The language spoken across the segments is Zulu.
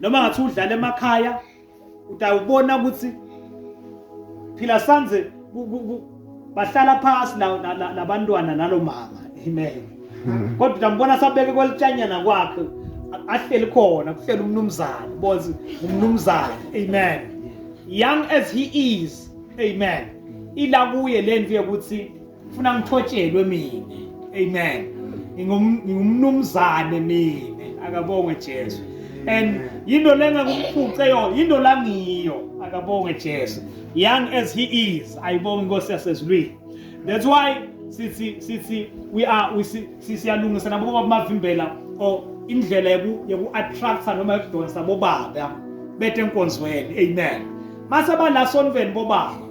noma ngathi udlala emakhaya utawubona ukuthi phila sanze bahlala phasi labantwana nalomama amen hmm. kodwa utambona sabeke kwelitshanyana kwakhe ahleli khona kuhleli umnumzane bozi umnumzane amen young as he is amen ila kuye lento yokuthi ngifuna ngithotshelwe mina amen ngingumnumzane mina akabongwe Jesu and yinto lengakumphuce yo yinto langiyo akabongwe Jesu young as he is ayibonga inkosi yasezulwini that's why sithi sithi we are we siyalungisa nabo bamavimbela or indlela yoku yoku attracta noma yokudonsa bobaba bete enkonzweni amen mase bala sonveni bobaba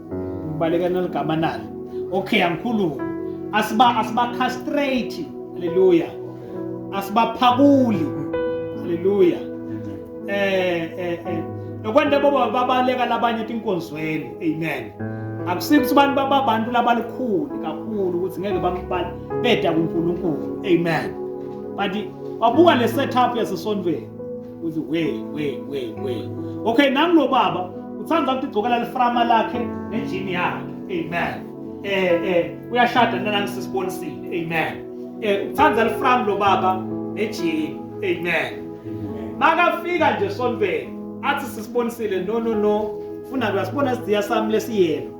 ubaleka naligama nalo okay angikhulumi asiba asiba castrate haleluya asibaphakuli haleluya eh eh eh nokwanda baba babaleka labanye tinkonzweni amen akusikho abantu babantu labalukhulu kakhulu ukuthi ngeke bamubala beda kuNkulunkulu amen but wabuka le setup yasesondweni uthi we we we we okay nami lo baba uthanda ukuthi igcokela liframa lakhe nejini yakhe amen eh eh uyashada nina ngisisibonisile amen eh uthanda lifram lo baba nejini amen makafika nje sonveni athi sisibonisile no no no funa kuyasibona sidiya sami lesiyena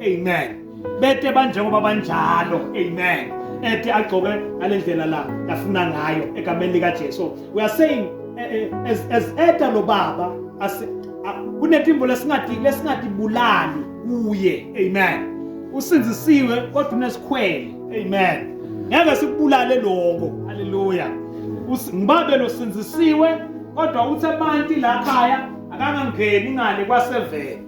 amen bete banjengoba banjalo amen ethi agcoke ngale ndlela la yafuna ngayo egameni likajesu we are saying eh, eh, as, as eta lo baba kunetimbo lesingatibulali kuye amen usinzisiwe kodwa unesikhwele amen ngeke sikubulale lokho haleluya ngibabe losinzisiwe kodwa uthe banti la khaya akangangeni ngale kwasevele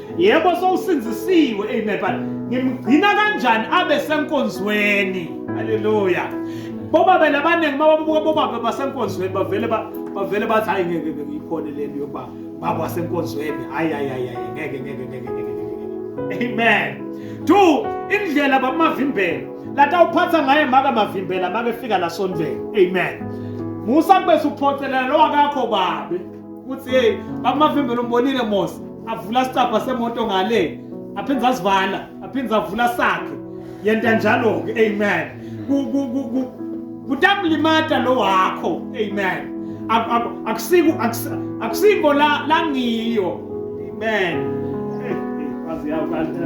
yebo sowusinzisiwe amen but ngimgcina kanjani abe senkonzweni haleluya bobaba labaningi mababuka bobaba basenkonzweni bavele bavele bathi hayi ngeke ngiyikhona le nto yokuba baba wasenkonzweni hayi hayi hayi ngeke ngeke ngeke ngeke amen two indlela bamavimbela lata uphatha ngaye maka mavimbela make fika la sondleni amen musa kube suphocelela lo akakho babe Uthi hey, bamavimbe lombonile Mosi, avula sicabha semoto ngale, aphinde asivala, aphinde avula sakhe. Yenta njalo ke, amen. Ku ku ku ku kutamlimata lo wakho, amen. Akusiku akusiko la langiyo. Amen. Wazi yawo kanti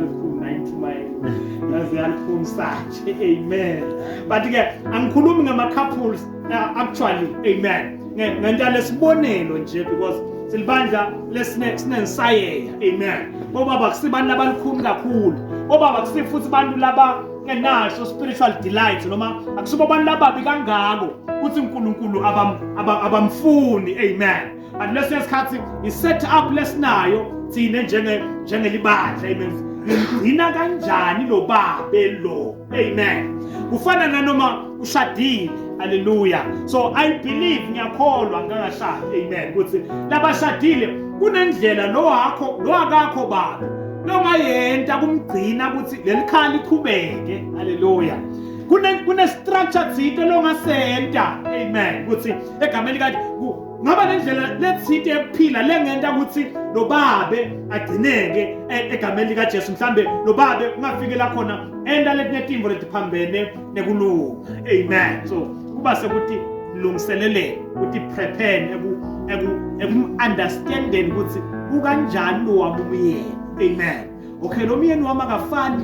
yaziyaluphumsaje amen but-ke angikhulumi ngama-couples uh, actually amen ngenta lesibonelo nje because silibandla lesinensayeya amen obaba kusibantu abalikhulu kakhulu obaba kusifuthi abantu laba enasho spiritual delight noma akusibo abantu lababi kangako ukuthi uNkulunkulu abamfuni amen and lesinye isikhathi i-set up lesinayo thina njengelibandla amen ngigcina kanjani lo babe lo amen kufana nanoma ushadile haleluya so i believe ngiyakholwa ngangashadi amen ukuthi labashadile kunendlela lo wakho lo akakho baba longayenta kumgcina ukuthi lelikhaya liqhubeke haleluya kune kune structure thinte longasenta amen ukuthi egameni likathi ngaba nendlela lethinte yokuphila lengenta ukuthi lo babe agcineke e-, egameni likaJesu mhlambe lo babe ungafikela khona enta letinetimbo letiphambene nekulunga amen so kuba sekuthi lungiselele ukuthi prepare eku eku eku understanding ukuthi ukanjani lo wabumyeni amen okay lo myeni wami akafani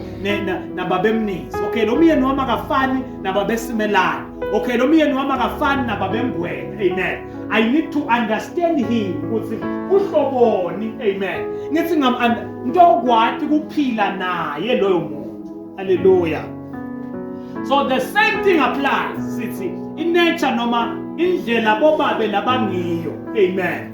nababemnisi okay lo myeni wami akafani nababesimelana okay lo myeni wami akafani nababengwena amen i need to understand him ukuthi uhloboni amen ngithi ngam ntokwati kuphila naye loyo muntu haleluya so the same thing applies sithi inature noma indlela bobabe labangiyo amen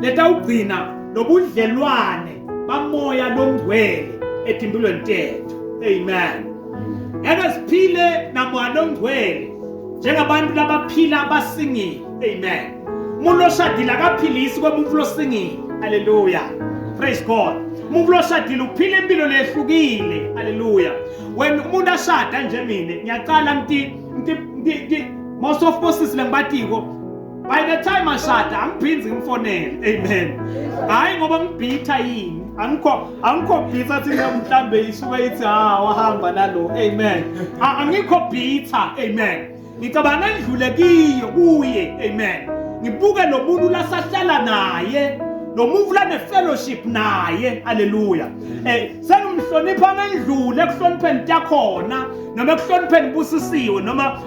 letawugcina lobudlelwane bamoya longcwele etimpilweni tethu amen eke siphile namoya longcwele njengabantu labaphila basingile amen umuntu oshadile akaphilisi komuntu losingile haleluya praise god umuntu loshadile uphila impilo lehlukile haleluya wena umuntu ashada nje mina ngiyaqala nti nti nti most of bosisi lengibatiko by the time ashada angiphindzi ngifonele amen hayi ngoba ngibhitha yini angikho angikho bhitha athi mhlawumbe isuke ithi ha ah, wahamba nalo amen angikho bhitha amen ngicabanga ngidlule kiyo kuye amen ngibuke lo muntu lasahlala naye lo muntu lanefellowship naye haleluya um eh, sengimhlonipha ngendlule ekuhlonipheni takhona noma ekuhlonipheni busisiwe noma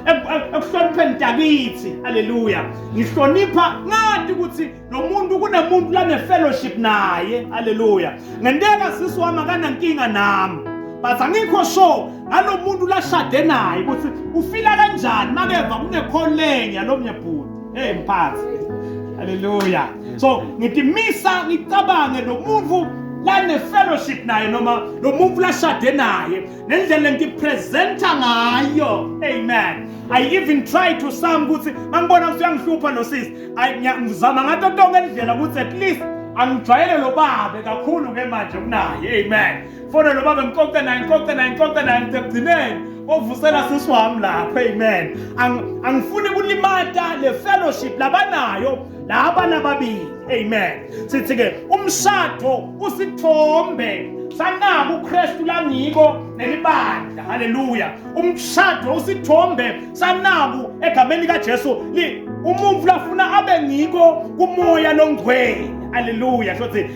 ekuhlonipheni mntakithi haleluya ngihlonipha ngathi ukuthi lo muntu kunemuntu lanefellowship naye haleluya ngenteka sisi wami akanankinga nami but angikho sure ngalo muntu lashade naye ukuthi ufila kanjani makeva kunekholenya lo mnye bhuti hey mphathi haleluya so ngithi misa ngicabange lo muntu lanefellowship naye noma lo muntu lashade naye nendlela ngipresenta ngayo amen i even try to some ukuthi mangibona ukuthi uyangihlupha lo sisi ngizama ngato tonke indlela ukuthi at least angijwayele lo babe kakhulu ke manje kunaye amen fona lo babe ngixoxe naye ngixoxe naye ngixoxe naye ngithe kugcineni ovusela sisi wami lapho amen angifuni kulimata le fellowship labanayo laba nababili amen sithi ke umshado usithombe sanaka uKristu langiko nelibandla haleluya umshado usithombe sanaku egameni lika Jesu li umuntu lafuna abe ngiko kumoya longcwele haleluya shothi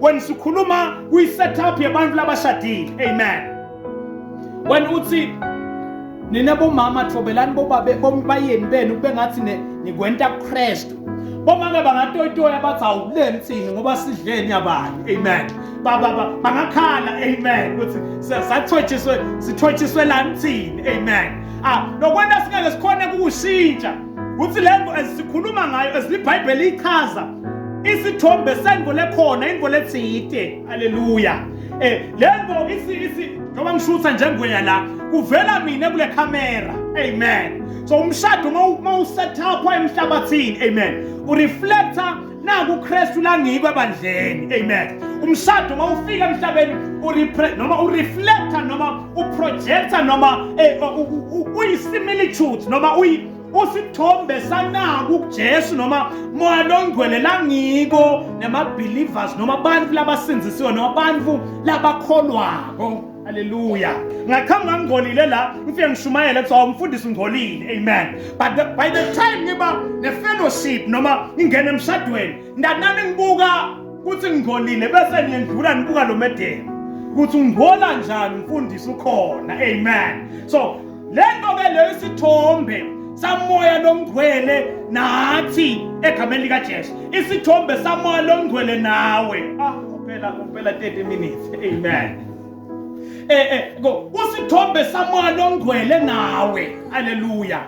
when sikhuluma kwi setup yabantu labashadile amen when uthi nina bomama thobelani bobabe bombayeni benu kube ngathi nikwenta kuKristu bomake bangatoyitoya bathi awuleni thini ngoba sidleni yabani amen baba bangakhala amen ukuthi sathotshiswe sithotshiswe lani thini amen ah lokwenta singeke sikhone kukushintsha ukuthi lento esikhuluma ngayo esibhayibheli ichaza isithombe sengo lekhona ingo letsite haleluya um eh, le ngo njengoba ngishutha njengweya la kuvela mina kule khamera amen so umshado uma usethapha emhlabathini amen ureflecta naku ukristu langikwe ebandleni amen umshado uma ufika emhlabeni noma ureflecta noma uprojecta noma eh, uyisimilitude noma usithombe sanaku kuJesu noma moya longcwele langiko nemabelievers noma abantu labasindzisiwe noma abantu labakholwako haleluya ngaqhamuka ngingcolile la ngifike ngishumayele kuthiwa awumfundisi ungcolile amen but the, by the time ngiba ne-fellowship noma ngingena emshadweni ndanani ngibuka ukuthi ngingcolile bese niyendlula nibuka lo medeni ukuthi ungcola njani mfundisi ukhona amen so le nto ke leyo isithombe samoya longcwele nathi egameni likajesu isithombe samoya longcwele nawe ah kuphela kuphela 30 minutes amen eh eh usithombe samoya longcwele nawe haleluya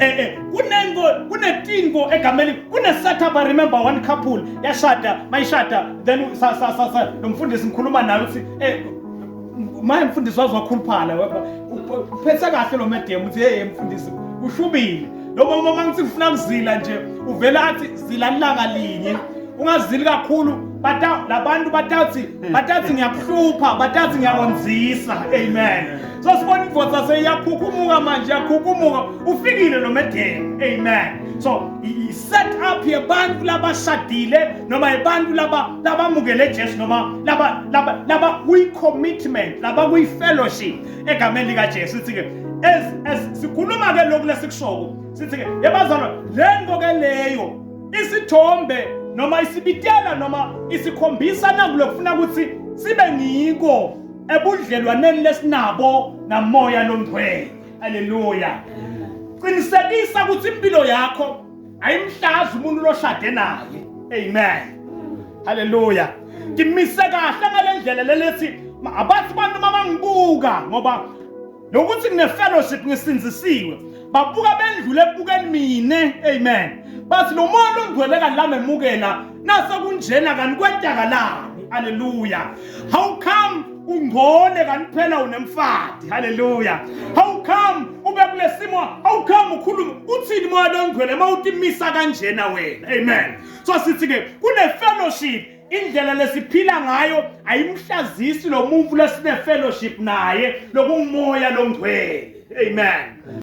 eh eh kunengo kunetingo egameni kune setup i remember one couple yashada mayishada then sa sa sa lomfundisi ngikhuluma naye uthi eh Manje mfundisi wazokhuluphala wepha. Uphethe kahle lo madam uthi hey mfundisi ushubile. Lo mama uma ngithi ufuna kuzila nje uvela athi zila langa linye. Ungazili kakhulu bata labantu batathi batathi ngiyakuhlupha batathi ngiyakonzisa amen. So sibona indoda seyakhukumuka manje yakhukumuka ufikile lo madam amen. So set up yebantu labashadile noma yebantu laba labamukele Jesu noma laba laba laba kwi commitment laba kwi fellowship egameni lika Jesu sithi ke as as sikhuluma ke lokhu lesikushoko sithi ke yebazalwa lengo ke leyo isithombe noma isibitela noma isikhombisa nangu lokufuna ukuthi sibe ngiko ebudlelwaneni lesinabo namoya longcwele Haleluya. Qinisekisa ukuthi impilo yakho ayimhlazi umuntu loshade naye. Amen. Haleluya. Ngimise kahle ngalendlela lelethi abathi abantu mabangibuka ngoba nokuthi ngine fellowship ngisinzisiwe babuka bendlule ebukeni mina amen bathi lo moya ongcwele kanilami emukela nase kunjena kanti kwentakalani haleluya how come ungcole kanti phela unemfadi haleluya how come ube kulesimo how come ukhuluma uthini moya longcwele mawutimisa kanjena wena amen so sithi ke kune fellowship indlela lesiphila ngayo ayimhlazisi lo muntu lesine fellowship naye lokungumoya longcwele amen